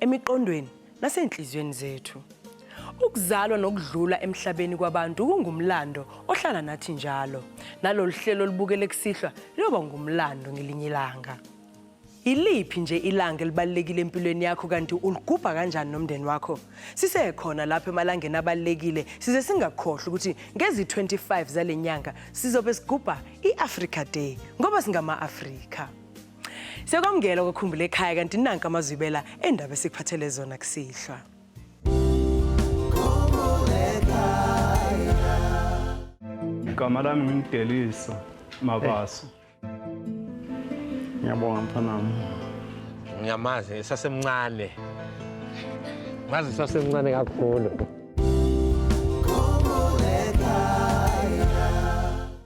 emiqondweni nasenhliziyweni zethu. Ukuzalwa nokudlula emhlabeni kwabantu kungumlando ohlala nathi njalo. Nalolu hlelo olubukele kusihlwa liyoba ngumlando ngelinye ilanga. Yiliphi nje ilanga elibalulekile empilweni yakho kanti uligubha kanjani nomndeni wakho? Sisekhona lapho emalangeni abalulekile size singakhohlwa ukuthi ngezi-25 zale nyanga sizobe sigubha i-Africa Day ngoba singama-Afrika. Sekwamukela kwakhumbula ekhaya kanti nanka amazwibela endaba esikuphathele zona kusihlwa. Igama lami ngimdelisa Mabaso. Ngiyabonga mfanami. Ngiyamazi esasemncane. Ngazi esasemncane kakhulu.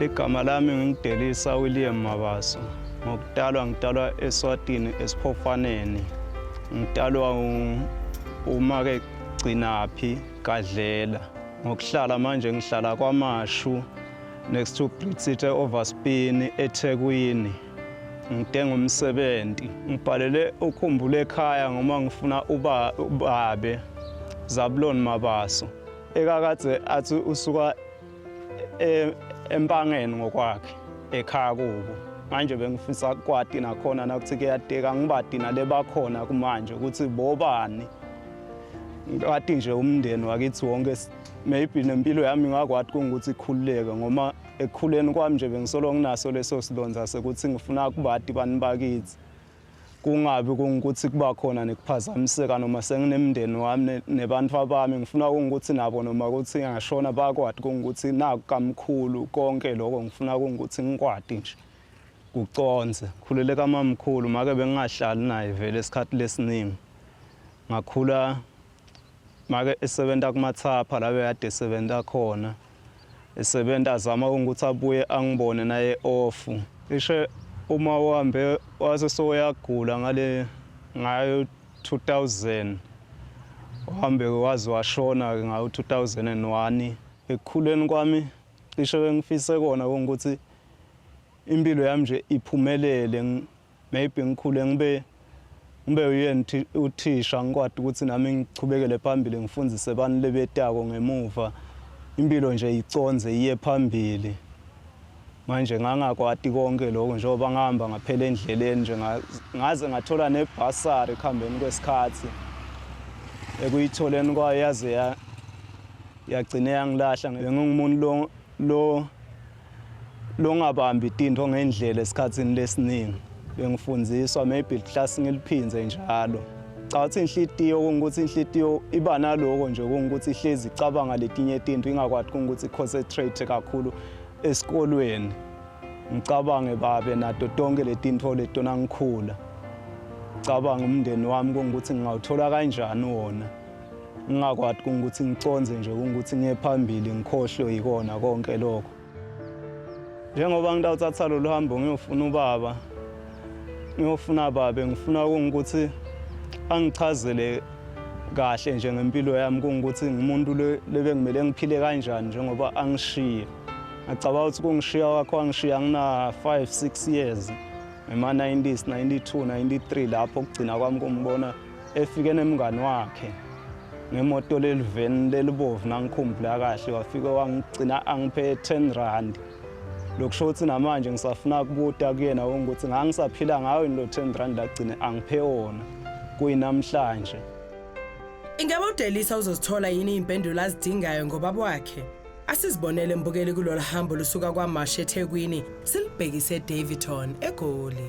Igama lami ngingidelisa William Mabaso. Ngokutalwa ngitalwa eSwatini esiphofaneni. Ngitalwa umake Gcinaphi Gadlela. Ngokuhlala manje ngihlala kwaMashu next to Brit City Overspin eThekwini. Ngidinga umsebenzi. Ngibhalele ukhumbula ekhaya ngoba ngifuna uba ubabe Zabulon Mabaso. Ekakade athi usuka e, empangeni ngokwakhe ekhaya kubo manje bengifisa kwati nakhona nakuthi kuyadeka ngibadi nalebakhona kumanje ukuthi bobani ngati nje umndeni wakithi wonke maybe nempilo yami ngakwati kungukuthi ikhululeke ngoma ekukhuleni kwami nje bengisolo nginaso leso silonza sekuthi ngifuna kubati bani bakithi kungabi kungukuthi kuba khona nekuphazamiseka noma senginemndeni wami nebantu abami ngifuna kungukuthi nabo noma ukuthi ngashona bakwati kungukuthi naku kamkhulu konke lokho ngifuna kungukuthi ngikwati nje kuconze khulele kamamkhulu make bengingahlali naye vele isikhathi lesiningi ngakhula make esebenza kumathapha la bekade esebenza khona esebenza azama ukuthi abuye angibone naye ofu ishe uma uhambe wase soyagula ngale ngayo 2000 uhambe waze washona ke ngayo 2001 ekukhuleni kwami cishe bengifise kona ukuthi impilo yami nje iphumelele maybe ngikhule ngibe ngibe uyena uthisha ngikwadi ukuthi nami ngichubekele phambili ngifundise abantu lebetako ngemuva impilo nje iconze iye phambili manje ngangakwati konke lokho njengoba ngihamba ngaphela endleleni nje ngaze ngathola nebhasari ekuhambeni kwesikhathi ekuyitholeni kwayo yaze yagcine yangilahla ngengumuntu lo lo longabambi tinto ngendlela esikhatsini lesiningi bengifundiswa maybe class ngiliphindze njalo cha uthi inhlitiyo kungukuthi inhlitiyo iba naloko nje kungukuthi ihlezi icabanga letinye tinto ingakwazi kungukuthi concentrate kakhulu esikolweni ngicabange babe nato tonke letinto letona ngikhula cabanga umndeni wami kungukuthi ngingawuthola kanjani wona ngingakwati kungukuthi ngicondze nje kungukuthi ngiye phambili ngikhohlwe yikona konke lokho njengoba ngitawuthatha lolu hambo ngiyofuna ubaba ngiyofuna babe ngifuna kungukuthi angichazele kahle nje ngempilo yami kungukuthi ngumuntu lebengimele ngiphile kanjani njengoba angishiye ngicabanga ukuthi kungishiya wakho angishiya ngina-five six years ngema-90s 92 93 lapho kugcina kwami kumbona efike nemngani wakhe ngemoto leliveni lelibovu nangikhumbula kahle wafike wangigcina angiphe 10 rand lokusho ukuthi namanje ngisafuna kubuta kuyena ukuthi ngangisaphila ngayo yini lo 10 rand agcine angiphe wona kuyinamhlanje Ingabe uDelisa uzozithola yini impendulo azidingayo ngobaba wakhe? Asizibonele mbukeli kulolu hambo lusuka kwaMashi eThekwini silibhekise eDaveyton eGoli.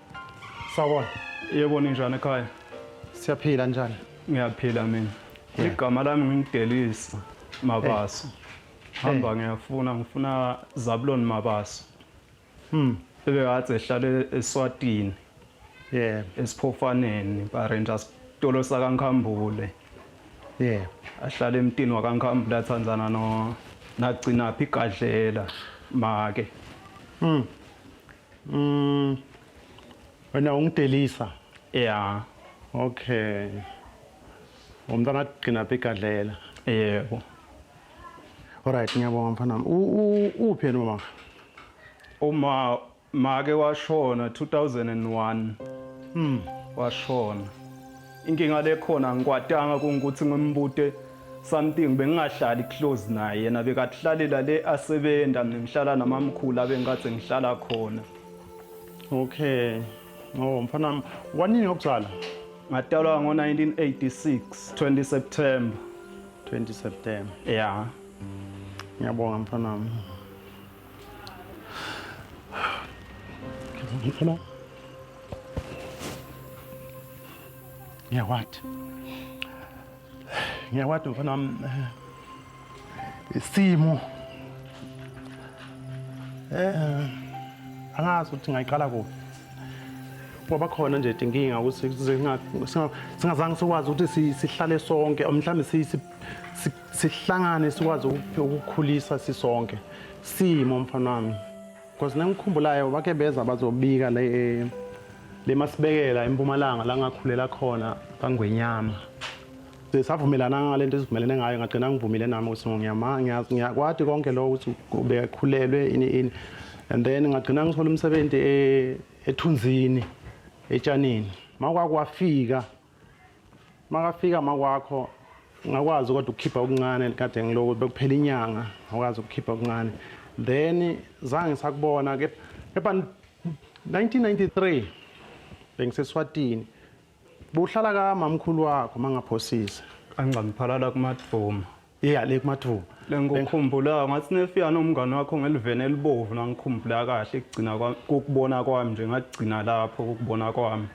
Sawona. Yebo ninjani ekhaya? Siyaphila njani? Ngiyaphila mina. Yeah. Igama lami ngingidelisa Mabaso. Hamba ngiyafuna ngifuna Zabulon Mabaso. Hmm. Ebe ngathi ehlala eSwatini. Yeah. Esiphofaneni, Barenta sitolo sakaNkhambule. Yeah. Ahlala emtini wakaNkhambule athandana no nagcina phi gadlela make. Hmm. Mm. Wena ungidelisa. Yeah. Okay. Umntana agcina begadlela. Yebo. Alright ngiyabonga mfana. Uphi yena mama? Uma make washona 2001. Mm. Washona. Inkinga lekhona angikwatanga kungukuthi ngimbute something bengingahlali close naye yena bekahlalela le asebenza mina ngihlala namamkhulu abengikade ngihlala khona okay oh mfana wanini yokuzala ngatalwa ngo-1986 20 september 20 september ya yeah. ngiyabonga mfana wami Ngifuna ngiyakwati ngiyakwati mfana wami eh, isimo eh angazi ukuthi ngayiqala kuphi ngoba khona nje inkinga ukuthi singazange sikwazi ukuthi sihlale sonke mhlawumbe sihlangane sikwazi ukukhulisa sisonke simo mfana wami because nengikhumbulayo bake beza bazobika le eh, le masibekela empumalanga la ngakhulela khona kangwenyama savumelana ngale nto esivumelene ngayo ngagcina ngivumile nami ukuthi ngiyama ngiyakwati konke lokho ukuthi bekhulelwe ini ini and then ngagcina ngithola umsebenzi eh, ethunzini etshanini makwakwafika makafika makwakho ngakwazi kodwa ukukhipha okuncane kade ngiloko bekuphela inyanga ngakwazi ukukhipha okuncane then zange sakubona ke kepha 1993 bengiseswatini buhlala kamamkhulu wakho mangaphosise angcamiphalala kumadvuma Yeah le kumathuba. Lengikukhumbulayo ngathi nefika nomngane wakho ngelivene elibovu nangikhumbula kahle kugcina kwami kokubona kwami nje ngagcina lapho kokubona kwami.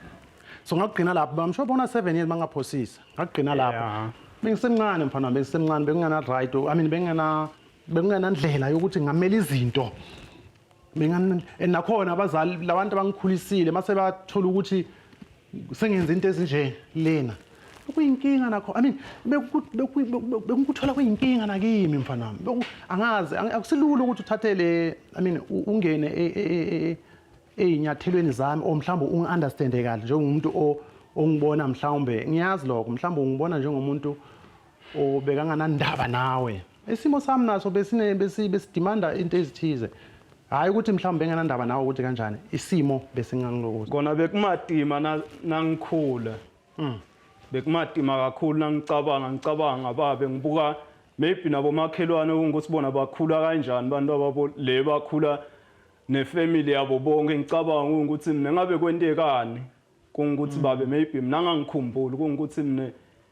So ngagcina lapho bamsho bona 7 years mangaphosisa. Ngagcina lapho. Yeah. Bengisemncane mfana wami bengisemncane bekungena right. I mean bengena bekungena ndlela yokuthi ngamela izinto. Bengan nakhona abazali labantu abangikhulisile mase bathola ukuthi sengenza into ezinje lena kuyinkinga nakho i mean bekukuthola kuyinkinga nakimi mfana wami angazi akusilula ukuthi uthathe le i mean ungene e, e, e, ezinyathelweni zami or mhlawumbe ungi-understande kahle njengomuntu ongibona mhlawumbe ngiyazi lokho mhlawumbe ungibona njengomuntu ubekanganandaba nawe isimo sami naso besine besi besidimanda into ezithize hayi ukuthi mhlawumbe benganandaba nawe ukuthi kanjani isimo besingangilokuza kona bekumatima na- nangikhula Mm. bekumatima kakhulu nangicabanga ngicabanga ngababe ngibuka maybe nabomakhelwane ukuthi bona bakhula kanjani abantu ababo le bakhula nefamily yabo bonke ngicabanga ukuthi mina ngabe kwentekani kungukuthi babe maybe mina ngangikhumbuli kungukuthi mina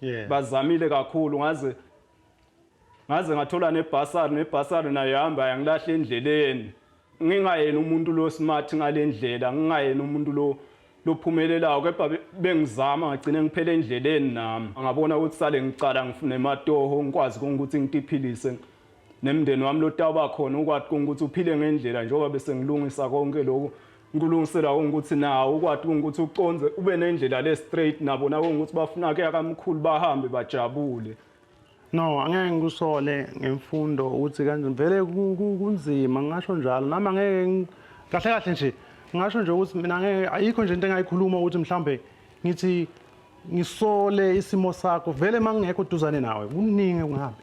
yeah. bazamile kakhulu ngaze ngaze ngathola nebhasari nebhasari nayo hamba yangilahle endleleni ngingayena umuntu lo smart ngalendlela ngingayena umuntu lo lophumelelayo kepha bengizama ngagcine ngiphele endleleni nami ngabona ukuthi sale ngicala ngifune matoho ngikwazi ukuthi ngitiphilise nemndeni wami lotawuba khona ukwathi ukuthi uphile ngendlela njengoba bese ngilungisa konke lokho Ngikulungisela ukuthi nawo ukwati ukuthi uconze ube nendlela le straight nabo nawo ukuthi bafuna ke akamkhulu bahambe bajabule. No, angeke ngikusole ngemfundo ukuthi kanje vele kunzima ngasho njalo nami angeke kahle kahle nje ngasho nje ukuthi mina ngeke ayikho nje into engayikhuluma ukuthi mhlambe ngithi ngisole isimo sakho vele mangingekho duzane nawe kuningi kungahambi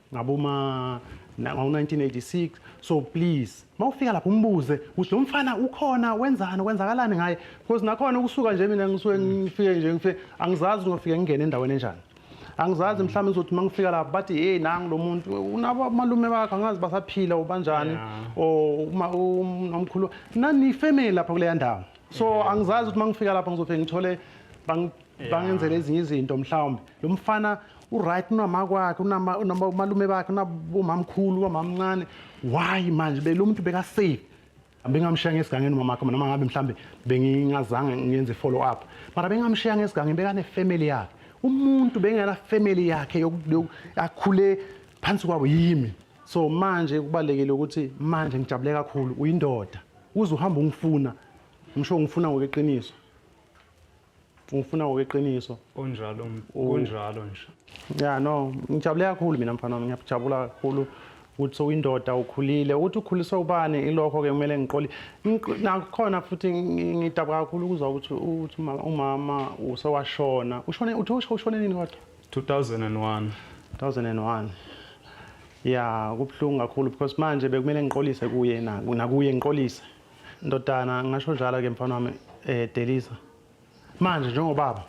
ngaboma ngo-1986 so please uma ufika lapho umbuze ukuthi lo mfana ukhona wenzani kwenzakalani ngaye because nakhona ukusuka nje mina ngisuke ngifike nje ngifike angizazi ngofike ngingene endaweni enjani angizazi mhlawumbe ngizothi uma ngifika lapho bathi hey nangu lo muntu unabo amalume bakhe angazi basaphila ubanjani or um, umkhulu nanifemeli lapha kuleya ndawo so angizazi ukuthi uma ngifika lapho ngizofike ngithole bangenzela ezinye izinto mhlawumbe lo mfana uright unama kwakhe unomalume bakhe unabomamkhulu ubamamncane why manje belo muntu bekasafe bengamshiya ngesigangeni umama wakhe noma ngabe mhlambe bengingazange ngenze follow up mara bengamshiya ngesigangeni bekane family yakhe umuntu bengena family yakhe akhule phansi kwabo yimi so manje kubalekile ukuthi manje ngijabule kakhulu uyindoda uze uhamba ungifuna ngisho ngifuna ngokweqiniso ufuna ngokweqiniso kunjalo kunjalo nje ya no ngijabule kakhulu mina mfana wami ngiyajabula kakhulu ukuthi sowuyindoda ukhulile ukuthi ukhuliswe ubani ilokho ke kumele ngiqoli nakhona futhi ngidaba kakhulu ukuzwa ukuthi uthi umama usewashona ushone uthi ushone nini kodwa 2001 2001 ya kubuhlungu kakhulu because manje bekumele ngiqolise kuye nakuye ngiqolise Ndodana ngasho njalo ke mfana wami eh Delisa. Manje njengobaba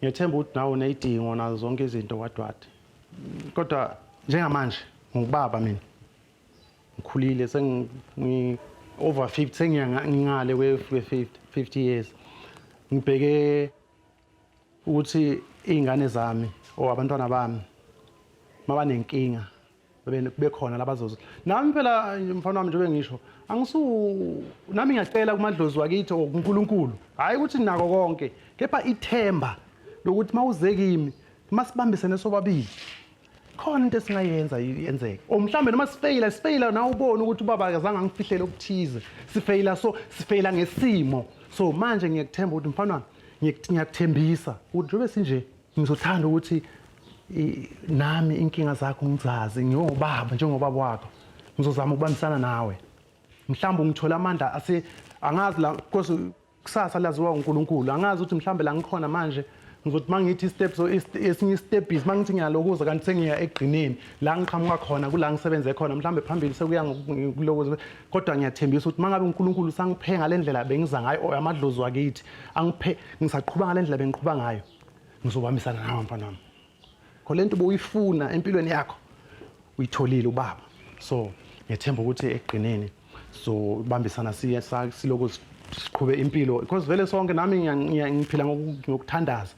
ngethemba ukuthi nawe unezidingo nazo zonke izinto wadwade. Kodwa njengamanje ngubaba mina. Ngikhulile sengi over 50 sengiya ngingale kwe 50 years. Ngibheke ukuthi iy'ngane zami or abantwana bami mabanenkinga bekhona labazozo nami phela mfana wami njengoba ngisho angisu nami ngiyacela kumadlozi wakithi or kuNkulunkulu hhayi ukuthi nako konke kepha ithemba lokuthi mawuze kimi masibambisene sobabili khona into esingayenza yenzeke or mhlawumbe noma sifeyila sifeyila nawe ubone ukuthi ubaba akazange angifihlele okuthize sifeyila so sifeyila ngesimo so manje ngiyakuthemba ukuthi mfana wami ngiyakut- ngiyakuthembisa ukuthi njengoba sinje ngizothanda ukuthi i- nami inkinga zakho ngizazi ngiyobaba njengobaba wakho ngizozama ukubambisana nawe mhlawumbe ungithola amandla ase angazi la because kusasa laziwa uNkulunkulu angazi ukuthi mhlambe la ngikhona manje ngizothi mangithi step so esinye step is mangithi ngiyalokuza kanti sengiya egqineni la ngiqhamuka khona kula ngisebenze khona mhlambe phambili sekuya ngokulokuza kodwa ngiyathembisa ukuthi mangabe uNkulunkulu usangiphe ngalendlela bengiza ngayo or amadlozi wakithi angiphe ngisaqhubha ngalendlela bengiqhubha ngayo ngizobambisana nawe mfana wami khole nto ubuyifuna empilweni yakho uyitholile ubaba so ngethemba ukuthi ekugcineni so bambisana siye sa- silokhu si- siqhube impilo because vele sonke nami ngiya- ngiya- ngiphila ngoku- ngokuthandaza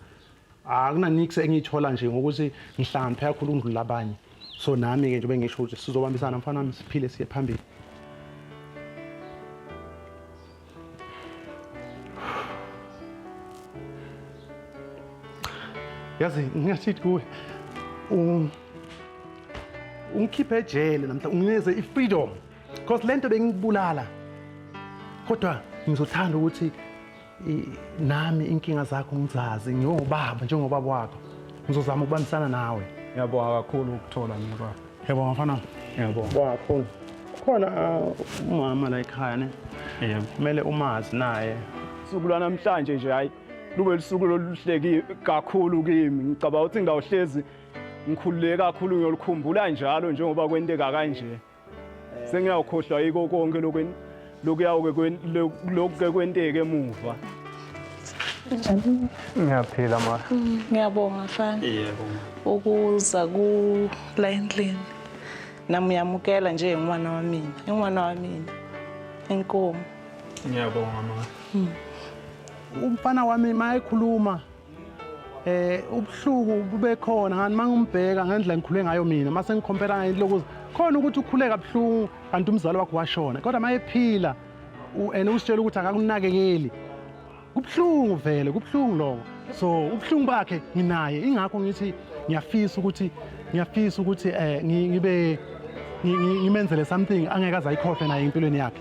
akunanix engiyithola nje ngokuthi ngihlambe kakhulu ukundlula abanye so nami-ke nje bengisho ukuthi sizobambisana mfana wami siphile siye phambili yazi ngingashithi kuwe um, ungikhiphe ejele namhla ungineze i-freedom because le nto bengikubulala kodwa ngizothanda ukuthi nami inkinga zakho ngizazi ngiwubaba njengobaba wakho ngizozama ukubambisana nawe ngiyabonga kakhulu ukuthola mina baba Yebo mfana. Yebo. Wakhona. Khona uh, umama la ekhaya ne. Yebo. Kumele umazi naye. Suku lwanamhlanje nje hayi lube lusuku loluhleki kakhulu kimi. Ngicabanga ukuthi ngawuhlezi ngikhululeke kakhulu ngiyolukhumbula njalo njengoba kwenteka kanje. Sengiyawukhohlwa yiko konke lokweni. lokhu ke kwenteke emuva Unjani? Ngiyaphila ma. Mm, ngiyabonga mfana. Yebo. Ukuza ku la endlini. Nami uyamukela nje ngwana wa mina. Ingwana wa mina. Inkomo. Ngiyabonga ma. Mm. Umfana wami mayekhuluma eh ubuhluku bube khona kanti mangimbheka ngendlela ngikhule ngayo mina mase ngikhompela ngento lokuza khona ukuthi ukhuleka buhlungu kanti umzali wakho washona kodwa mayephila and usitshela ukuthi akakunakekeli kubuhlungu vele kubuhlungu lokho so ubuhlungu bakhe nginaye ingakho ngithi ngiyafisa ukuthi ngiyafisa ukuthi eh ngibe ngimenzele something angeke azayikhohle naye empilweni yakhe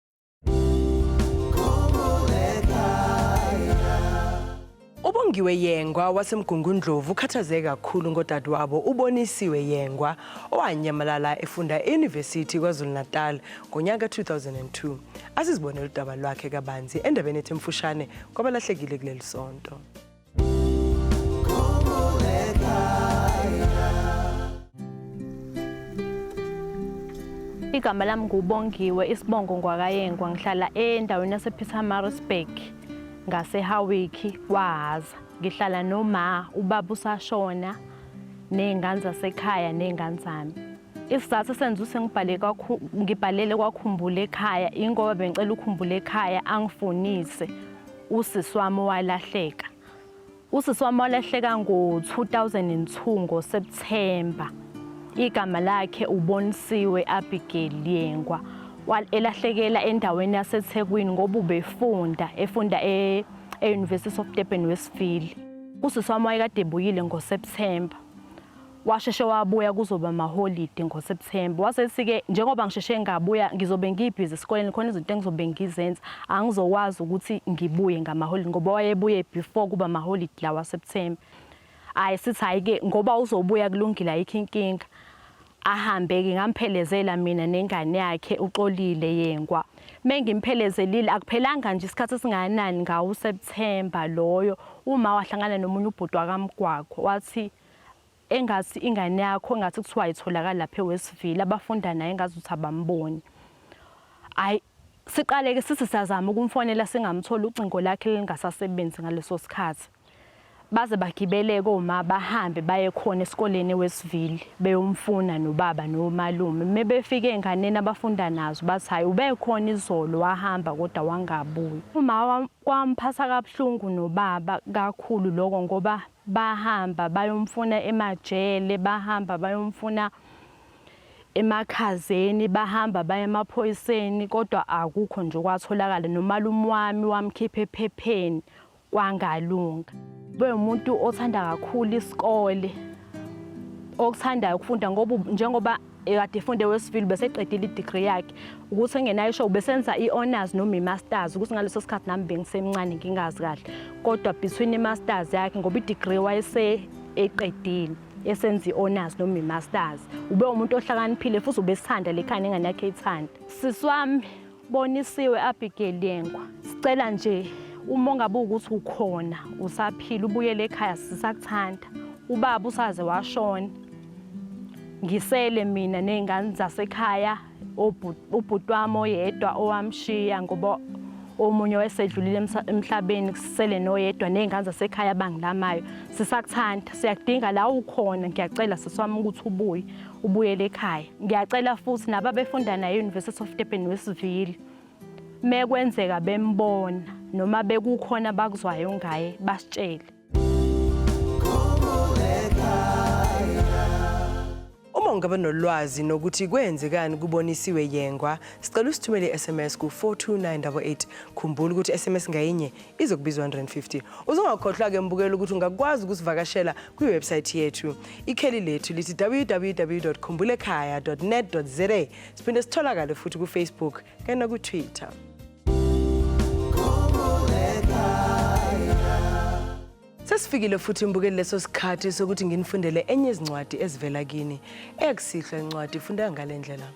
Ubongiwe Yengwa waseMgungundlovu ukhathazeke kakhulu ngodadewabo uBonisiwe Yengwa owanyamalala efunda e-University KwaZulu-Natal ngonyaka 2002. Asizibonele udaba lwakhe kabanzi endabeni ethi mfushane kwabalahlekile kuleli sonto. Igama lami nguBongiwe isibongo ngwakayengwa ngihlala endaweni yasePietermaritzburg ngaseHawiki kwaHhaza. Ngihlala noma ubaba usashona nezingane zasekhaya nezingane zami. Isizathu esenza ukuthi ngibhale ngibhalele kwakhumbula ekhaya ingoba bengicela ukhumbula ekhaya angifunise usisi wami owalahleka usisi wami walahleka ngo-2002 ngosepthemba igama lakhe ubonisiwe abigail yengwa elahlekela endaweni yasethekwini ngoba ubefunda efunda e, e-university of durban westville usisi wami wayekade ebuyile ngosepthemba washeshe wabuya kuzoba amaholidi ngoSeptember wase sike njengoba ngisheshe ngabuya ngizobe ngibhizi esikoleni khona izinto engizobe ngizenza angizokwazi ukuthi ngibuye ngamaholidi ngoba wayebuye before kuba amaholidi lawa September hayi sithi hayi ke ngoba uzobuya kulungile ayikho inkinga ahambe ke ngamphelezela mina nengane yakhe uxolile yengwa mengimphelezelile akuphelanga nje isikhathi esingakanani ngawo September loyo uma wahlangana nomunye ubhuti wakamgwaqo wathi engathi ingane yakho engathi kuthiwa itholakala lapha ewesivile abafunda naye engathi uthi abamboni hayi siqaleke sisi siyazama ukumfonela singamtholi ucingo lakhe lingasasebenzi ngaleso sikhathi baze bagibeleke uma bahambe baye khona esikoleni wesivile beyomfuna nobaba nomalume uma befike enganeni abafunda nazo bathi hhayi ubekhona izolo wahamba kodwa wangabuyi uma kwamphatha kabuhlungu nobaba kakhulu loko ngoba Bahamba bayomfuna emajele, bahamba bayomfuna emakhazeni, bahamba baye emaphoyiseni kodwa akukho nje okwatholakala. Nomalume wami wamkhipha ephepheni kwangalunga. Bewumuntu othanda kakhulu isikole, okuthandayo ukufunda ngoba njengoba ekade efunde wesivile beseqedile i-degree yakhe ukuthi engenayo isho ubesenza i-honors noma i-masters ukuthi ngaleso sikhathi nami bengisemncane ngingazi kahle kodwa between i-masters yakhe ngoba i-degree wayese eqedile esenza i-honors noma i-masters ube umuntu ohlakaniphile futhi ubesithanda le khani engane yakhe ithanda sisi wami Bonisiwe Abigail Yengwa. Sicela nje uma ungabe ukuthi ukhona usaphila ubuyele ekhaya sisakuthanda. Ubaba usaze washona. Ngisele mina nezingane zasekhaya ubhuti wami oyedwa owamshiya ngoba omunye owesedlulile emhlabeni kusele noyedwa nezingane zasekhaya abangilamayo. Sisakuthanda, siyakudinga la ukhona ngiyacela siswami ukuthi ubuye. ubuyele ekhaya ngiyacela futhi naba befunda naye University of Durban Westville mekwenzeka bembona noma bekukhona bakuzwayo ngaye basitshele Uma ungaba nolwazi nokuthi kwenzekani kubonisiwe yengwa, sicela usithumele i-SMS ku-42988. Khumbula ukuthi i-SMS ngayinye izokubizwa 150 uzongakhohlwa ke mbukela ukuthi ungakwazi ukusivakashela kwiwebsayithi yethu ikheli lethu lithi www khumbulekhaya net za siphinde sitholakale futhi kufacebook kanye nakutwitter sesifikile futhi mbukeli leso sikhathi sokuthi nginifundele enye izincwadi ezivela kini eyakusihlwa incwadi ifundeka ngale ndlela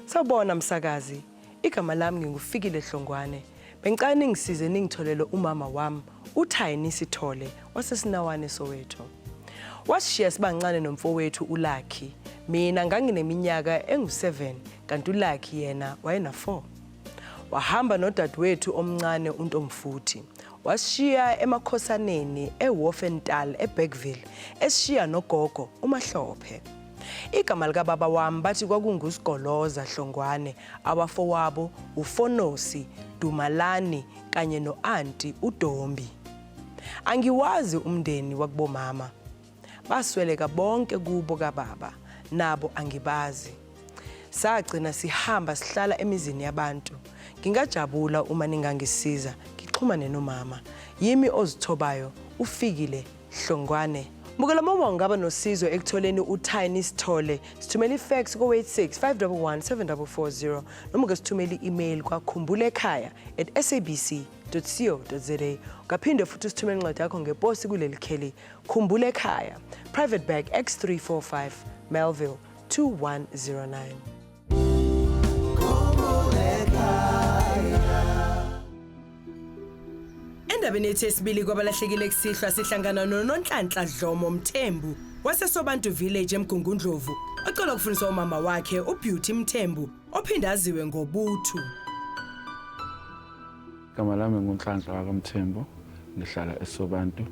sawubona msakazi Igama lami nginguFikile Hlongwane. Bengicela ningisize ningitholele umama wami uThayini Sithole waseSinawane Soweto. Wasishiya sibancane nomfowethu uLucky. Mina ngangineminyaka engu-7 kanti uLucky yena wayena-4. Wahamba nodadewethu omncane uNtomfuthi. Wasishiya emakhosaneni eWolfental eBergville esishiya nogogo uMahlophe. Igama likababa wami bathi kwakunguSigoloza Hlongwane, abafowabo uFonosi, Dumalani kanye no-anti uDombi. Angiwazi umndeni wakubomama. Basweleka bonke kubo kababa, nabo angibazi. Sagcina sihamba sihlala emizini yabantu. Ngingajabula uma ningangisiza ngixhumane nomama. Yimi ozithobayo ufikile Hlongwane. Mukela mama ungaba nosizo ekutholeni uTiny Sithole. Sithumela ifax ko-86 511 7440 noma ke sithumela i-email kwakhumbula ekhaya at sabc.co.za. Ungaphinde futhi usithumele incwadi yakho ngeposi kuleli kheli. Khumbula ekhaya. Private Bag X345 Melville 2109. Endabeni yethu yesibili kwabalahlekile kusihlwa sihlangana noNonhlanhla Dlomo Mthembu waseSobantu Village eMgungundlovu ocela ukufundisa umama wakhe uBeauty Mthembu ophinde aziwe ngoButhu. Igama lami nguNhlanhla wakamthembu ngihlala esobantu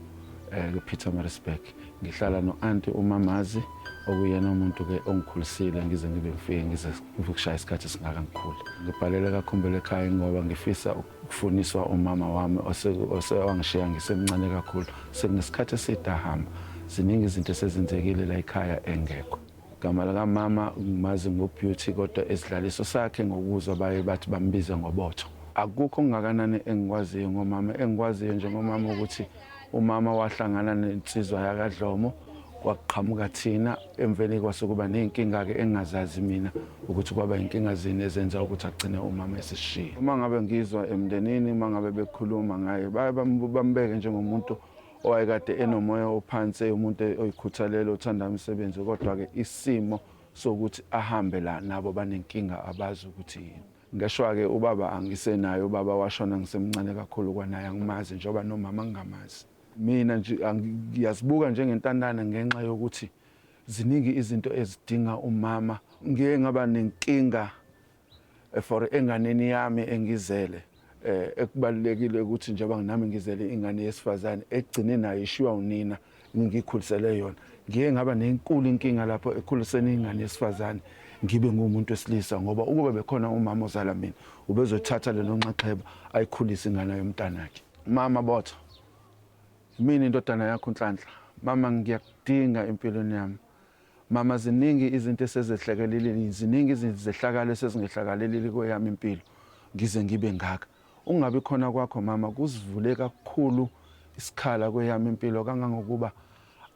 eh, kupeter marisburg ngihlala no-anti umamazi okuyena umuntu-ke ongikhulisile ngize ngibe ngifike ngize ngikushaya isikhathi esingaka ngikhule ngibhalele kakhumbule ekhaya ngoba ngifisa ukufuniswa umama wami osewangishiya ngisemncane kakhulu sekunesikhathi eside ahamba ziningi izinto esezenzekile la ekhaya engekho Igama likamama ngimazi ngoBeauty kodwa esidlaliso sakhe ngokuzwa baye bathi bambiza ngoBotho. Akukho okungakanani engikwaziyo ngomama. Engikwaziyo nje ngomama ukuthi umama wahlangana nensizwa yakaDlomo kwaqhamuka thina emveni kwasukuba ney'nkinga-ke engingazazi mina ukuthi kwaba yinkinga zini ezenza ukuthi agcine umama esishiye. Uma ngabe ngizwa emndenini uma ngabe bekhuluma ngaye baye bambeke njengomuntu owayekade enomoya ophansi umuntu oyikhuthalelo othanda umsebenzi kodwa-ke isimo sokuthi ahambe la nabo banenkinga abazi ukuthi yini ngeshwa-ke ubaba angisenaye ubaba washona ngisemncane kakhulu kwanaye angimazi njengoba nomama ngingamazi mina nje ngiyazibuka njengentandane ngenxa yokuthi ziningi izinto ezidinga umama ngiye ngaba nenkinga Eh, for enganeni yami engizele eh ekubalulekile ukuthi njengoba nginami ngizele ingane yesifazane egcine nayo ishiwa unina ngikhulisele yona ngiye ngaba nenkulu inkinga lapho ekhuliseni ingane yesifazane ngibe ngumuntu wesilisa ngoba ukuba bekhona umama ozala mina ubezothatha lelo nxaxheba ayikhulise ingane yomntanakhe mama botho mina indodana yakho unhlanhla mama ngiyakudinga empilweni yami Mama ziningi izinto esezehlekelelile, ziningi izehlakalo esezingehlakalelile kweyami impilo ngize ngibe ngaka. Ungabi khona kwakho mama kusivule kakhulu isikhala kweyami impilo kangangokuba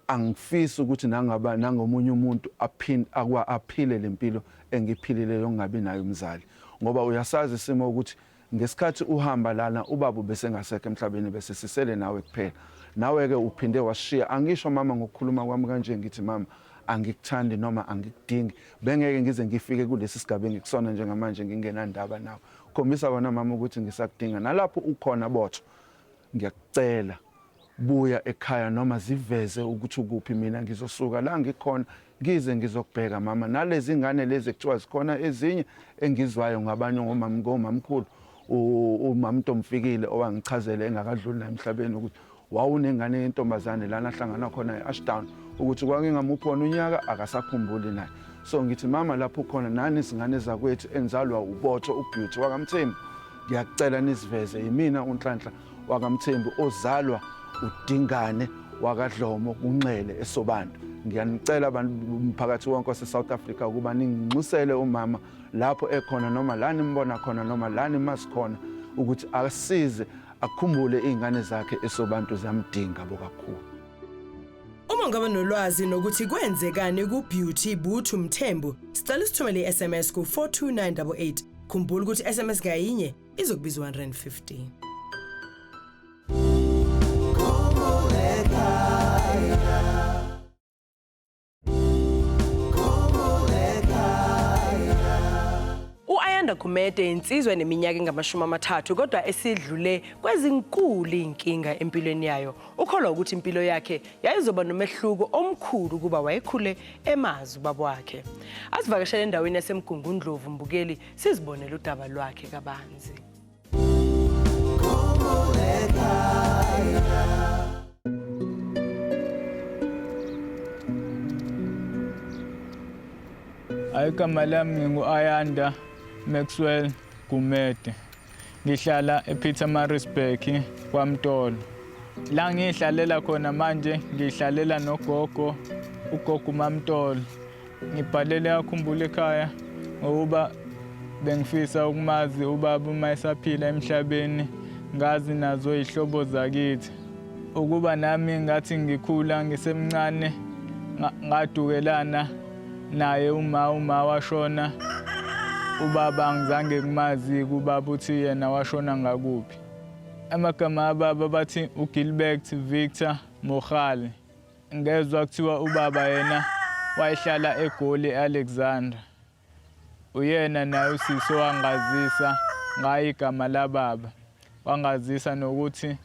angifisi ukuthi nangaba nangomunye umuntu aphinde akwa aphile lempilo engiphilile yokungabi nayo umzali ngoba uyasazi isimo ukuthi Ngesikhathi uhamba lana ubaba ubesengasekho emhlabeni bese sisele nawe kuphela. Nawe ke uphinde washiya. Angisho mama ngokukhuluma kwami kanje ngithi mama angikuthandi noma angikudingi bengeke ngize ngifike kulesi sigaba engikusona njengamanje ngingenandaba nawe khombisa wena mama ukuthi ngisakudinga nalapho ukhona botho ngiyakucela Buya ekhaya noma ziveze ukuthi ukuphi mina ngizosuka la ngikhona ngize ngizokubheka mama nalezi ngane lezi ekuthiwa zikhona ezinye engizwayo ngabanye ngomama ngomamkhulu umamntomfikile owangichazele engakadluli naye emhlabeni ukuthi wawunengane yentombazane lana ahlangana khona e-ashdown ukuthi kwakengamuphi wona unyaka akasakhumbuli naye so ngithi mama lapho ukhona nani izingane zakwethu enzalwa ubotho ubeauty wakamthembu ngiyakucela nisiveze yimina unhlanhla wakaMthembu ozalwa uDingane wakaDlomo kunxele eSobantu. Ngiyanicela abantu umphakathi wonke waseSouth Africa ukuba ninginxusele umama lapho ekhona noma la nimbona khona noma la nimazi khona ukuthi asize akhumbule izingane zakhe eSobantu ziyamdinga bokakhulu. Uma ngaba nolwazi nokuthi kwenzekani kuBeauty Buthu Mthembu, sicela usithumele iSMS ku 42988. Khumbula ukuthi iSMS ngayinye izokubiza 150 Ayanda Gumede insizwa eneminyaka engamashumi amathathu kodwa esidlule kwezinkulu inkinga empilweni yayo. Ukholwa ukuthi impilo yakhe yayizoba nomehluko omkhulu kuba wayekhule emazi ubaba wakhe. Asivakashele endaweni yaseMgungundlovu mbukeli sizibonele udaba lwakhe kabanzi Ayigama lami ngingu-Ayanda Maxwell Gumede. Ngihlala ePietermaritzburg kwaMtolo. La ngihlalela khona manje ngihlalela nogogo ugogo uMamtolo. Ngibhalele akhumbule ekhaya ngokuba bengifisa ukumazi ubaba uma esaphila emhlabeni ngazi nazo izihlobo zakithi. Ukuba nami ngathi ngikhula ngisemncane ngadukelana naye uma uma washona ubaba angizange kumazi kubaba uthi yena washona ngakuphi amagama ababa bathi ugilbert victor mohale ngezwa kuthiwa ubaba yena wayehlala egoli alexandra uyena naye usisi wangazisa ngayo igama lababa wangazisa nokuthi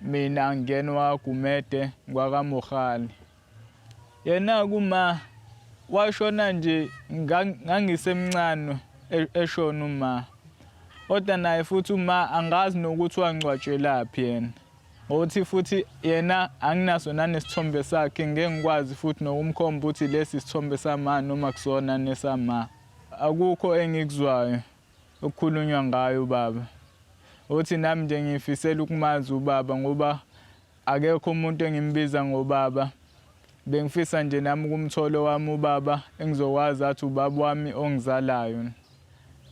mina ngingena wagumede kwakamohali yena kuma washona nje ngangisemncane e-, eshona uma kodwa naye futhi uma angazi nokuthi wangcwatshelaphi yena ngokuthi futhi yena anginaso nanesithombe sakhe ngeke ngikwazi futhi nokumkhomba ukuthi lesi isithombe sama noma kusona nesama akukho engikuzwayo okukhulunywa ngayo ubaba uthi nami nje ngifisela ukumazi ubaba ngoba Akekho umuntu engimbiza ngobaba. Bengifisa nje nami ukumthola owami ubaba engizokwazi athi ubaba wami ongizalayo.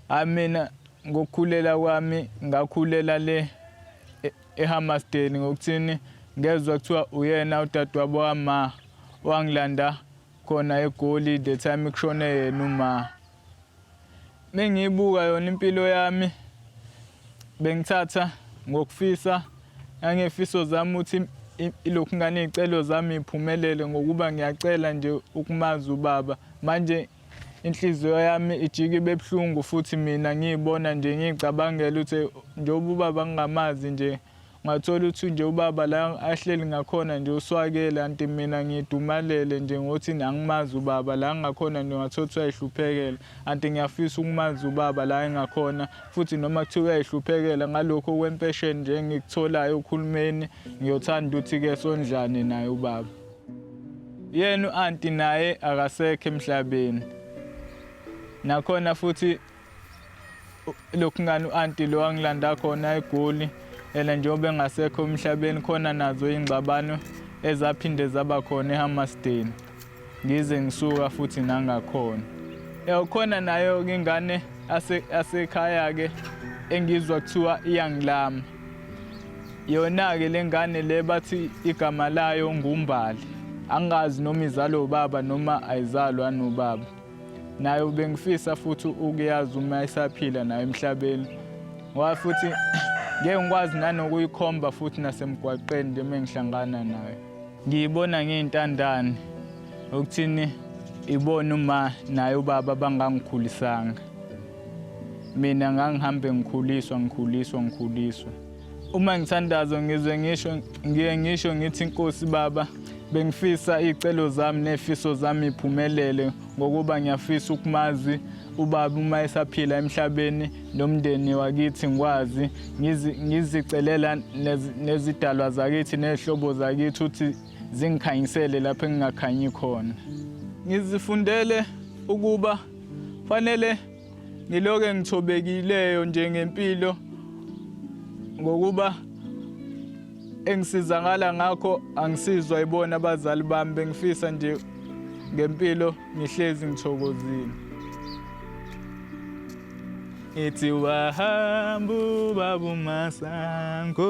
Hayi mina ngokukhulela kwami ngakhulela le e- eHammarsdale ngokuthini ngezwa kuthiwa uyena udadewabo wama wangilanda khona eGoli the time kushone yena uma. Mengiyibuka yona impilo yami bengithatha ngokufisa nangefiso zami ukuthi ilokhu ngane iy'celo zami iphumelele ngokuba ngiyacela nje ukumazi ubaba manje inhliziyo yami ijike ibe buhlungu futhi mina ngiyibona nje ngiyicabangela ukuthi njengoba ubaba ngingamazi nje Ngathola ukuthi nje ubaba la ahleli ngakhona nje uswakele anti mina ngidumalele nje ngothi angimazi ubaba la ngakhona nje ngathola ukuthi uyayihluphekela anti ngiyafisa ukumazi ubaba la engakhona futhi noma kuthiwa uyayihluphekela ngalokho okwempesheni nje engikutholayo ukhulumeni ngiyothanda ukuthi-ke sondlane naye ubaba yena u-anti naye akasekho emhlabeni nakhona futhi lokhu ngani u-anti lo angilanda khona egoli ena njengoba engasekho emhlabeni khona nazo iy'ngxabano ezaphinde zaba khona ehammasdeni ngize ngisuka futhi nangakhona yawukhona nayo-ke ingane asekhaya-ke engizwa kuthiwa iyangilama yona-ke le ngane le bathi igama layo ngumbali angazi noma izalwa ubaba noma ayizalwa nobaba nayo bengifisa futhi ukuyazi uma isaphila nayo emhlabeni ngoba futhi ngeke ngikwazi nanokuyikhomba futhi nasemgwaqeni nje uma ngihlangana nayo ngiyibona ngiyintandane okuthini ibona uma naye ubaba bangangikhulisanga mina ngangihambe ngikhuliswa ngikhuliswa ngikhuliswa Uma ngithandazo ngizwe ngisho ngiye ngisho ngithi Nkosi Baba bengifisa icelo zami nefiso zami iphumelele ngokuba ngiyafisa ukumazi ubaba uma esaphila emhlabeni nomndeni wakithi ngikwazi ngizicelela nezidalwa zakithi nezihlobo zakithi ukuthi zingikhanyisele lapho engingakhanyi khona ngizifundele ukuba fanele Ngiloke ngithobekileyo nje ngempilo ngokuba engisizakala ngakho angisizwa ibona abazali bami bengifisa nje ngempilo ngihlezi ngithokozile ngithi wahamba ubaba umasango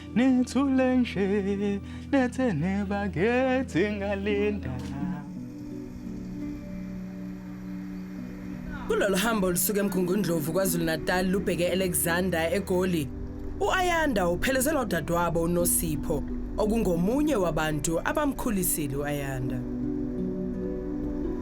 nithule nje nethe nebakethi ngalinda kulolu hambo olusuka emgungundlovu kwazulu-natal lubheke e-alexander egoli u-ayanda uphelezelwa udadewabo unosipho okungomunye wabantu abamkhulisile u-ayanda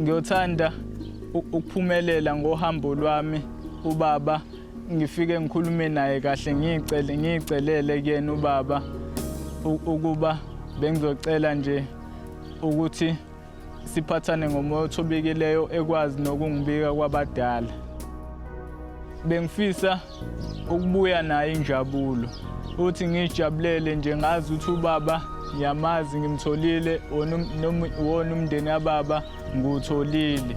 Ngiyothanda ukuphumelela ngohambo lwami ubaba ngifike ngikhulume naye kahle ngicele ngicelele kuyena ubaba ukuba bengizocela nje ukuthi Siphathane ngomoya othobekileyo ekwazi nokungibika kwabadala. Bengifisa ukubuya nayo injabulo. Uthi ngijabulele nje ngazi ukuthi ubaba ngiyamazi ngimtholile wona umndeni kababa ngiwutholile.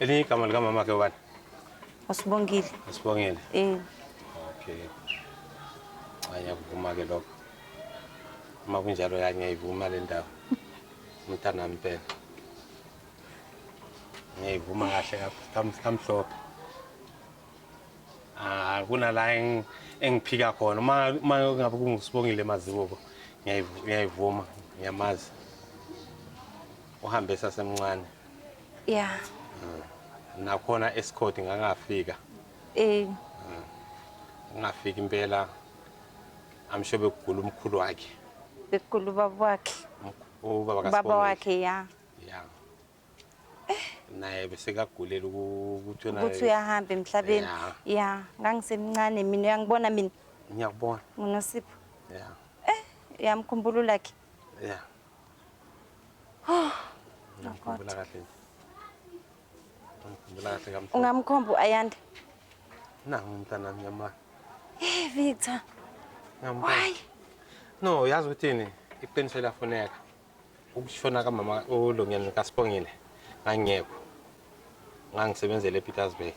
Elinye igama likamama ke ubani? Usibongile. Usibongile. Eh. Okay. Aya kuvuma ke lokho. Uma kunjalo yangiyayivuma le ndawo. Umntana mpela. Ngiyayivuma kahle kahle kamhlophe. Ah kunala engiphika khona uma uma ngabe kungusibongile mazibuko ngiyayivuma ngiyamazi uhambe sasemncane ya nakhona esikhodi ngangafika eh ngingafika impela amsho bekugula umkhulu wakhe bekugula ubaba wakhe ubaba kasibonile baba wakhe ya ya naye bese kagulela ukuthi naye ukuthi uyahamba emhlabeni ya ngangisemncane mina uyangibona mina ngiyakubona unosipho ya eh uyamkhumbula lakhe ya Ngikhumbula kahle nje. Ngikhumbula kahle kamfana. Ungamkhomba uAyanda. Nangu umntana ngiyamaka. Hey Victor. Ngiyambuka. Why? No, yazi ukuthini? Iqiniso eliyafuneka. Ukushona kamama uLungeni kaSibongile ngangiyekho. ngangisebenzela ePietersburg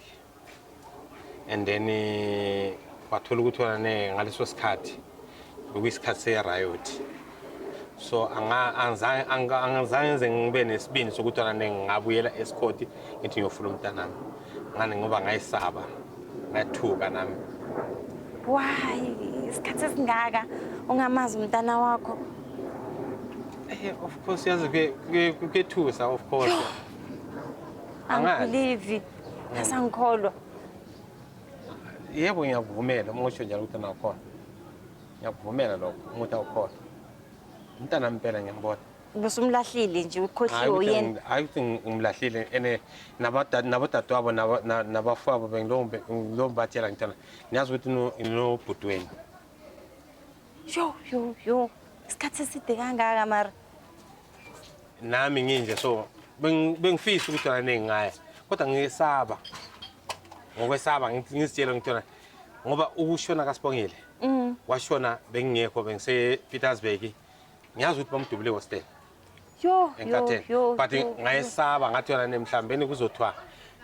and then eh, wathola ukuthi wona ne ngaleso sikhathi bekuyisikhathi se-riot so angizange nze ngibe nesibindi sokuthi wona ne ngingabuyela esikhoti ngithi ngiyofuna umntanami ngani ngoba ngayisaba ngathuka nami why isikhathi esingaka ungamazi umntana wakho eh, of course yazi kuyethusa of course Angazi. angibhilivi asangikholwa yebo ngiyakuvumela uma usho njalo ukuthi angakhona ngiyakuvumela lokho umuthi awukhona umntana mpela ngiyambona ubusumlahlile nje Hhayi ukhohliwe ukuthi uyena ngi- hhayi ukuthi ngi- ngimlahlile ene nabada- nabodadewabo naba- na- nabafowabo bengilobatshela ngitshela niyazi ukuthi no- nginobhuti wenu yo yo yo isikhathi eside kangaka mara nami nginje so beng- bengifisa ukuthi yona nengingaya kodwa ngiyesaba ngokwesaba ngi- ngizitshela ngithi yona ngoba ukushona kasibongile Mm. washona bengingekho bengisepetersburg ngiyazi ukuthi bamdubule ehostela Yo, yo, enkatheni yo, but yo, yo. ngayesaba ngathi yona ne mhlawumbeni kuzothiwa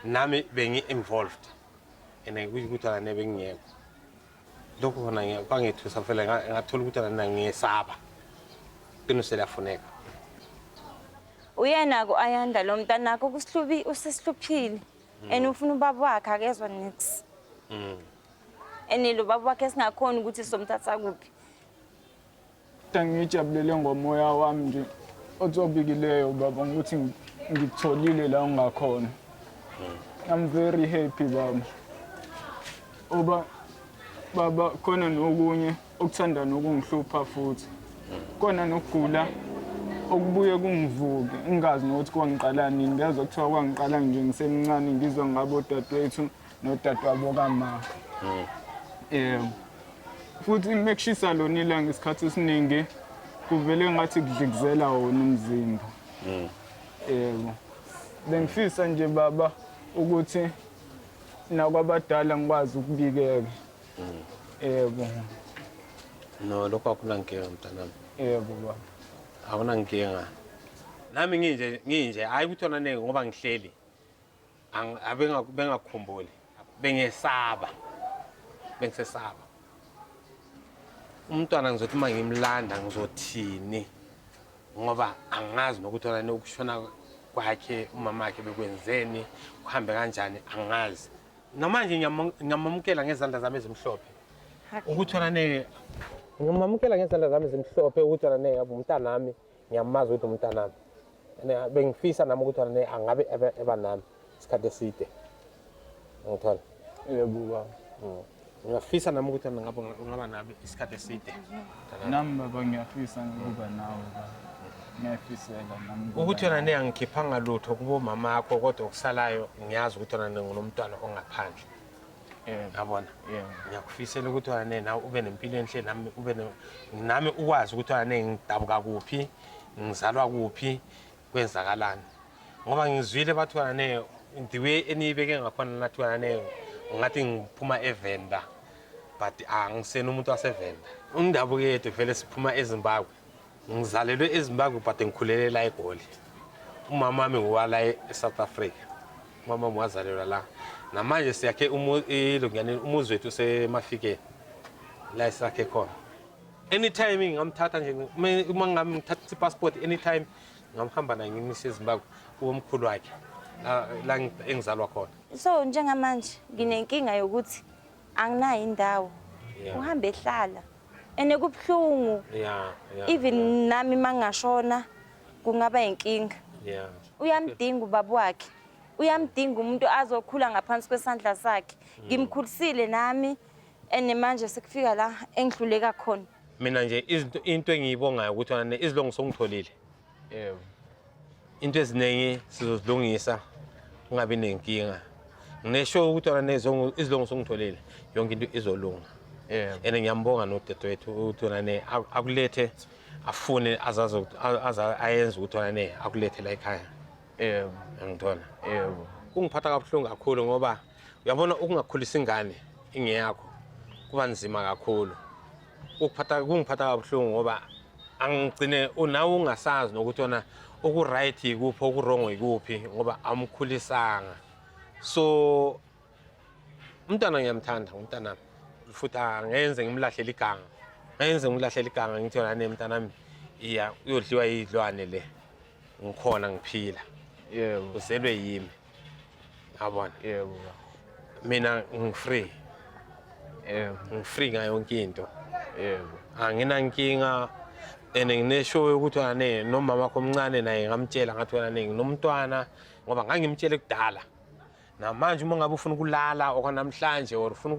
nami bengi-involved and kusho ukuthi yona ne bengingekho lokhu khona ngiya- kwangethusa mfela nga- ngathola ukuthi nana ngiyesaba iqiniso liyafuneka uyena ku ayanda lo mntanakho kusihlubi usesihluphile and ufuna ubaba wakhe akezwa nix Mm. and lo baba wakhe singakhona ukuthi somthatha kuphi Ngiyijabulele ngomoya wami nje othobikileyo baba ngokuthi ngikutholile la ungakhona. I'm very happy baba. Oba baba khona nokunye okuthanda nokungihlupha futhi. Kona nokugula okubuye kungivuke ngingazi nokuthi kwangiqala nini ngezwa kuthiwa kwangiqala nje ngisemncane ngizwa ngabo dadewethu nodadewabo kama mm. um futhi mekushisa lona ilanga isikhathi esiningi kuvele ngathi kudlikizela wona umzimba mm. yebo bengifisa nje baba ukuthi nakwabadala ngikwazi ukubikeka mm. yebo no lokho akunankinga mntanami yebo baba akunankinga nami nginje nginje hayi ukuthi ona ningi ngoba ngihleli bengakukhumbuli bengesaba bengisesaba umntwana ngizothi uma ngimlanda ngizothini ngoba angazi nokuthi olani ukushona kwakhe umama wakhe bekwenzeni kuhambe kanjani angazi noma nje ngiyamamukela ngezandla zami ezimhlophe ukuthi olane ngimamukela ngezandla zami ezimhlophe ukuthi olane yabo umntanami ngiyamazi ukuthi umntanami bengifisa nami ukuthi wena angabe eba nami isikhathi eside ngithola yebo baba mm. ngiyafisa nami ukuthi wena ngabe ungaba nami isikhathi eside nami baba ngiyafisa ngikuba nawe ngiyafisela nami ukuthi wena ne angikhiphanga lutho kubomama akho kodwa okusalayo ngiyazi ukuthi wena ngingunomntwana ongaphandle yabona ngiyakufisela ukuthi wane nawe ube nempilo enhle nami ube nami ukwazi ukuthi wane ngidabuka kuphi ngizalwa kuphi kwenzakalani ngoba ngizwile bathi wane the way eniyibeke ngakhona nathi wane ngathi ngiphuma evenda but angisena umuntu wasevenda undabuke yethu vele siphuma ezimbabwe Ngizalelwe eZimbabwe but ngikhulele la eGoli. Umama wami ngowala eSouth Africa. Umama wami wazalelwa la. Namanje siyakhe ilungiyaneni umuzi wethu usemafikeni. La esakhe khona. Anytime ngingamthatha nje uma ngamthatha i-passport anytime ngamhamba naye ngimisa eZimbabwe kuwomkhulu wakhe la engizalwa khona. So njengamanje nginenkinga yokuthi anginayo indawo Yeah. uhambe ehlala and kubuhlungu Yeah, yeah, even yeah, nami mangashona kungaba inkinga yeah. uyamdinga ubaba wakhe uyamdinga umuntu azokhula ngaphansi kwesandla sakhe Mm. ngimkhulisile nami and manje sekufika la engihluleka khona Mina nje izinto into engiyibongayo ukuthi wena izilongo songitholile. Eh into eziningi sizozilungisa ungabi nenkinga. Ngisho ukuthi wena nezongo izilungiso ngitholile yonke into izolunga. Eh and ngiyambonga nodadewethu ukuthi wena ne akulethe afune azazi ayenze ukuthi wena ne akulethe la ekhaya. Eh ngithola. Eh kungiphatha kabuhlungu kakhulu ngoba uyabona ukungakhulisa ingane ingeyakho kuba nzima kakhulu ukuphatha kungiphatha kabuhlungu ngoba angigcine unawe ungasazi nokuthi ona okuright yikuphi okuwrong yikuphi ngoba amkhulisanga so umntana ngiyamthanda ngumntanami futhi angenze ngimlahlele iganga ngenze ngimlahlele iganga ngithi yona ne mntanami iya uyodliwa yidlwane le ngikhona ngiphila yebo uzelwe yimi yabona yebo mina ngifree yebo ngifree ngayo yonke into yebo anginankinga and nginesho yokuthi wena ne nomama wakho omncane naye ngamtshela ngathi wena ne nginomntwana ngoba ngangimtshele kudala namanje uma ngabe ufuna ukulala okwanamhlanje or ufuna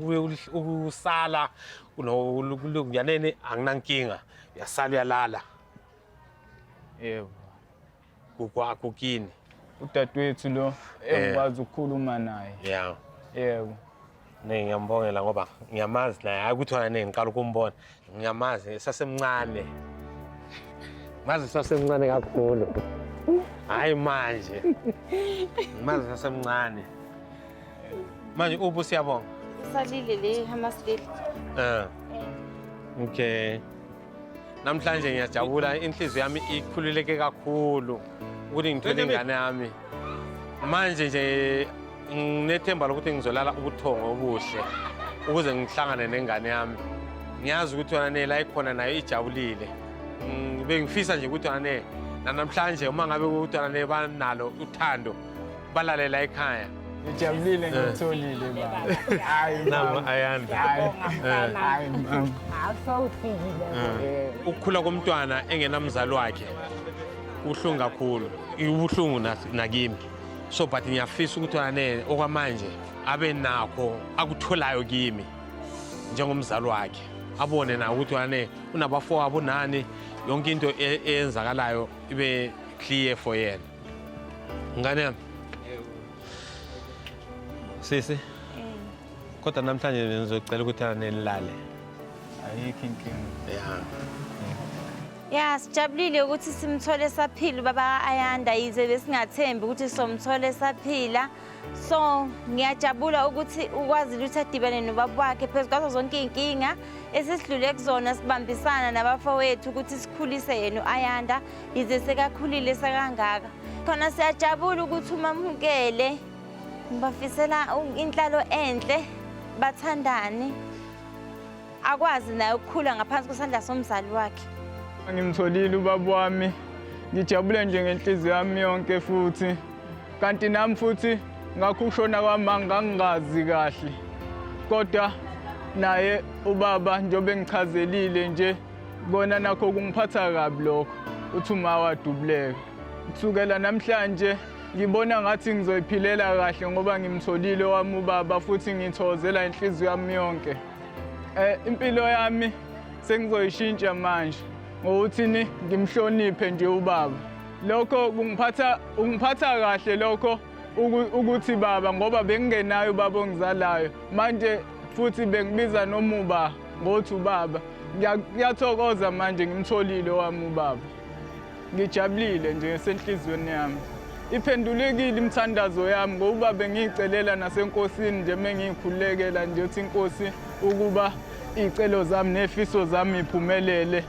ukusala kulokuyaneni anginankinga uyasala uyalala Yebo. Kukwakho kini. Udadewethu lo eh. engikwazi ukukhuluma naye. Yeah. Yebo. Ne ngiyambongela ngoba ngiyamazi naye hayi ukuthi wena ngiqala ukumbona. Ngiyamazi esasemncane. Mazi esasemncane kakhulu. Hayi manje. Mazi esasemncane. Manje ubu siyabonga. Salile le hamasilile. Eh. Okay. namhlanje ngiyajabula inhliziyo yami ikhululeke kakhulu ukuthi ngithwele ingane yami manje nje nginethemba lokuthi ngizolala ubuthongo obuhle ukuze ngihlangane nengane yami ngiyazi ukuthi yona ne la ikhona nayo ijabulile bengifisa nje ukuthi yona ne nanamhlanje uma ngabe ukuthi yona ne banalo uthando balalela ekhaya ngijabulile ngitholile baba hayi nama ayanda hayi hayi awusawufikile ukukhula komntwana engenamzali wakhe kuhlungu kakhulu ibuhlungu nakimi so but ngiyafisa ukuthi anele okwamanje abe nakho akutholayo kimi njengomzali wakhe abone na ukuthi wane unabafowabo nani yonke into e-, eyenzakalayo ibe clear for yena Ngane yami. Sisi. Kodwa namhlanje ngizocela ukuthi anelale. Ayikho inkinga. Yeah. Ya sijabulile ukuthi simthole esaphila ubaba ka-Ayanda yize besingathembi ukuthi somthole esaphila. So ngiyajabula ukuthi ukwazile ukuthi adibane nobaba wakhe phezu kwazo zonke iy'nkinga esesidlule kuzona sibambisana nabafowethu ukuthi sikhulise yena u-Ayanda yize sekakhulile sekangaka khona siyajabula ukuthi umamukele ngibafisela inhlalo enhle bathandane akwazi naye ukukhula ngaphansi kwesandla somzali wakhe ngimtholile ubaba wami ngijabule nje ngenhliziyo yami yonke futhi kanti nami futhi ngakho ukushona kwami angangazi kahle kodwa naye ubaba njengoba engichazelile nje Kona nakho kungiphatha kabi lokho, uthi uma wadubuleka. Kusukela namhlanje ngibona ngathi ngizoyiphilela kahle ngoba ngimtholile wami ubaba futhi ngithokozela inhliziyo yami yonke. Eh impilo yami sengizoyishintsha manje ngokuthi ni ngimhloniphe nje ubaba. Lokho kungiphatha ungiphatha kahle lokho ukuthi baba ngoba bengingenayo ubaba ongizalayo manje futhi bengibiza nomuba Ngothi ubaba ngiyathokoza manje ngimtholile wami ubaba. Ngijabulile nje senhlizweni yami. Iphendulekile imithandazo yami ngokuba bengiyicelela nasenkosini nje mengiyikhulekela nje uthi inkosi ukuba iy'celo zami nefiso zami iphumelele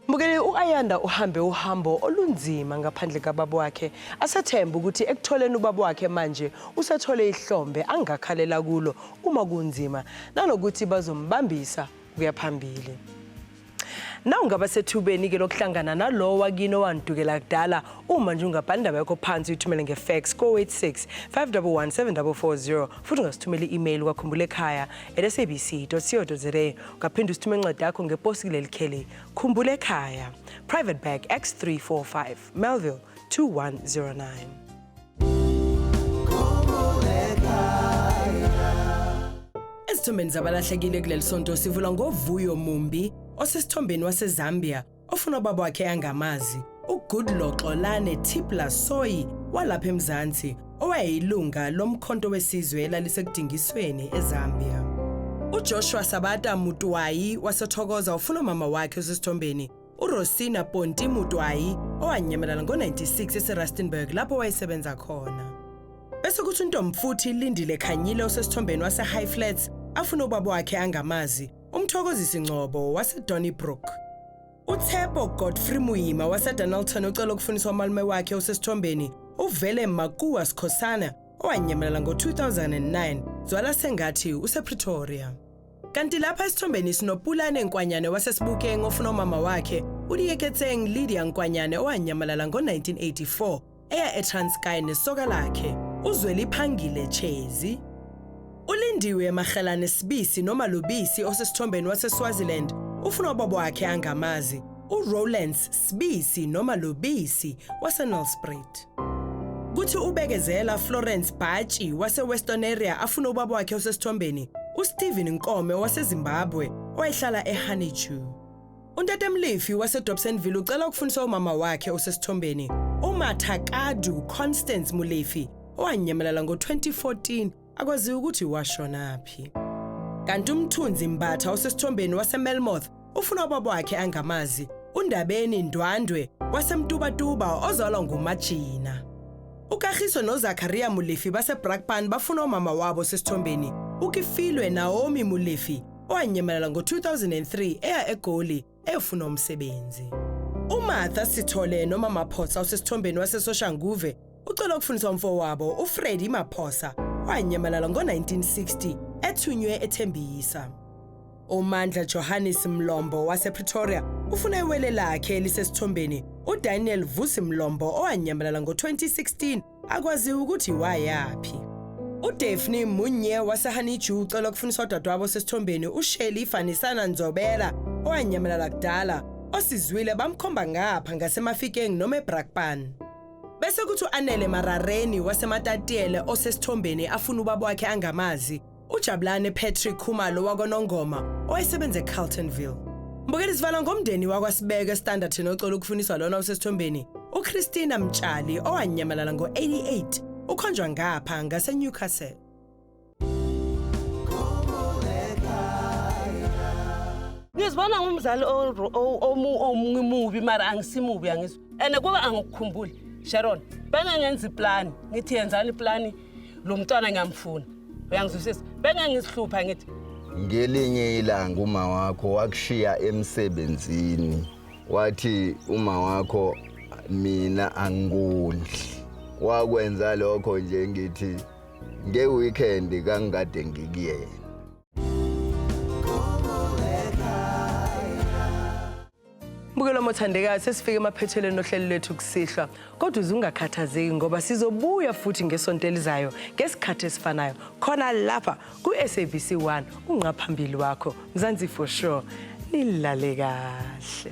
Mbukeli u-Ayanda uhambe uhambo olunzima ngaphandle kababa wakhe. Asethembe ukuthi ekutholeni ubaba wakhe manje usethole ihlombe angakhalela kulo uma kunzima nanokuthi bazombambisa ukuya phambili. Nawu ngaba sethubeni-ke lokuhlangana nalowo wakini owandukela kudala uma nje ungabhala indaba yakho phansi uyithumele ngefax ko-86 511 7440 futhi ungasithumela i-email kwakhumbula ekhaya at sabc co za Ungaphinde usithume incwadi yakho ngeposi kuleli kheli. Khumbula ekhaya. Private Bag X345 Melville 2109. Ezithombeni zabalahlekile kuleli sonto sivula ngovuyo mumbi osesithombeni waseZambia ofuna ubaba wakhe angamazi, uGoodluck Xolane Tipla Soyi walapha eMzansi owayeyilunga lomkhonto wesizwe elalisekudingisweni eZambia. UJoshua Sabata Mutwayi waseThokoza ufuna umama wakhe osesithombeni uRosina Ponti Mutwayi owanyamalala ngo-96 eseRustenburg lapho wayesebenza khona. Bese kuthi uNtomfuthi Lindile Khanyile osesithombeni waseHigh Flats afuna ubaba wakhe angamazi uMthokozisi Ngcobo waseDonnybrook, uTshepo Godfrey Muyima waseDonalton ocela ukufuniswa umalume wakhe osesithombeni uvele Makuwa Sikhosana owanyamalala ngo-2009 zwala sengathi usepretoria kanti lapha esithombeni sinopulane nkwanyane wasesibukeng ofuna umama wakhe uliyeketseng lydia nkwanyane owanyamalala ngo-1984 eya eTranskei nesoka lakhe uZweliphangile Chezi. ULindiwe Magelane Sibisi noma Lubisi osesithombeni waseSwaziland ufuna ubaba wakhe angamazi uRowlands Sibisi noma Lubisi waseNelspruit. Kuthi ubekezela Florence Bhatshi waseWestern Area afuna ubaba wakhe osesithombeni uSteven Nkome waseZimbabwe owayehlala eHoneydew. Untatemlifi waseDobsonville ucela ukufundisa umama wakhe osesithombeni, uMatha Kadu Constance Mulifi, owanyamalala ngo-2014 akwaziwa ukuthi washonaphi. Kanti uMthunzi Mbatha osesithombeni waseMelmoth ufuna ubaba wakhe angamazi, uNdabeni Ndwandwe waseMtubatuba ozalwa nguMajina. UKagiso noZakariya Mulifi baseBrakpan bafuna umama wabo sesithombeni, uKifilwe Naomi Mulifi owanyamalala ngo-2003 eya eGoli eyofuna umsebenzi. UMartha Sithole noma Maphosa osesithombeni waseSoshanguve ucela ukufundiswa umfowabo uFreddy Maphosa owanyamalala ngo-1960 ethunywe eThembisa. UMandla Johannes Mlombo wasePretoria ufuna iwele lakhe elisesithombeni uDaniel Vusi Mlombo owanyamalala ngo-2016 akwaziwa ukuthi wayaphi. UDaphne Munye waseHoneydew ucela ukufuniswa udadewabo osesithombeni uShelly Fanisana Nzobela owanyamalala kudala osizwile bamkhomba ngapha ngaseMafikeng noma eBrakpan. Bese kuthi uAnele Marareni waseMatatiele osesithombeni afuna ubaba wakhe angamazi uJabulane Patrick Khumalo wakwaNongoma owayesebenza eCarltonville. Mbukeli sivala ngomndeni wakwaSibeke Standard noxolo ukufuniswa lona osesithombeni uChristina Mtshali owanyamalala ngo-88 ukhonjwa ngapha ngaseNewcastle. ngizibona ngumzali omunye mubi mara angisimubi angizwa and kuba angikukhumbuli sharon bengengenza iplani ngithi yenzani iplani lo mntwana ngiyamfuna uyangizwisisa bengeke ngisihlupha ngithi ngelinye ilanga uma wakho wakushiya emsebenzini wathi uma wakho mina angikondli wakwenza lokho nje ngithi ngeweekend kangikade ngikuyena Mbukelo mothandekayo sesifike emaphethelweni nohlelo lwethu kusihlwa kodwa uze ungakhathazeki ngoba sizobuya futhi ngesonto elizayo ngesikhathi esifanayo khona lapha ku-sabc 1 ungqaphambili wakho mzansi for sure nilale kahle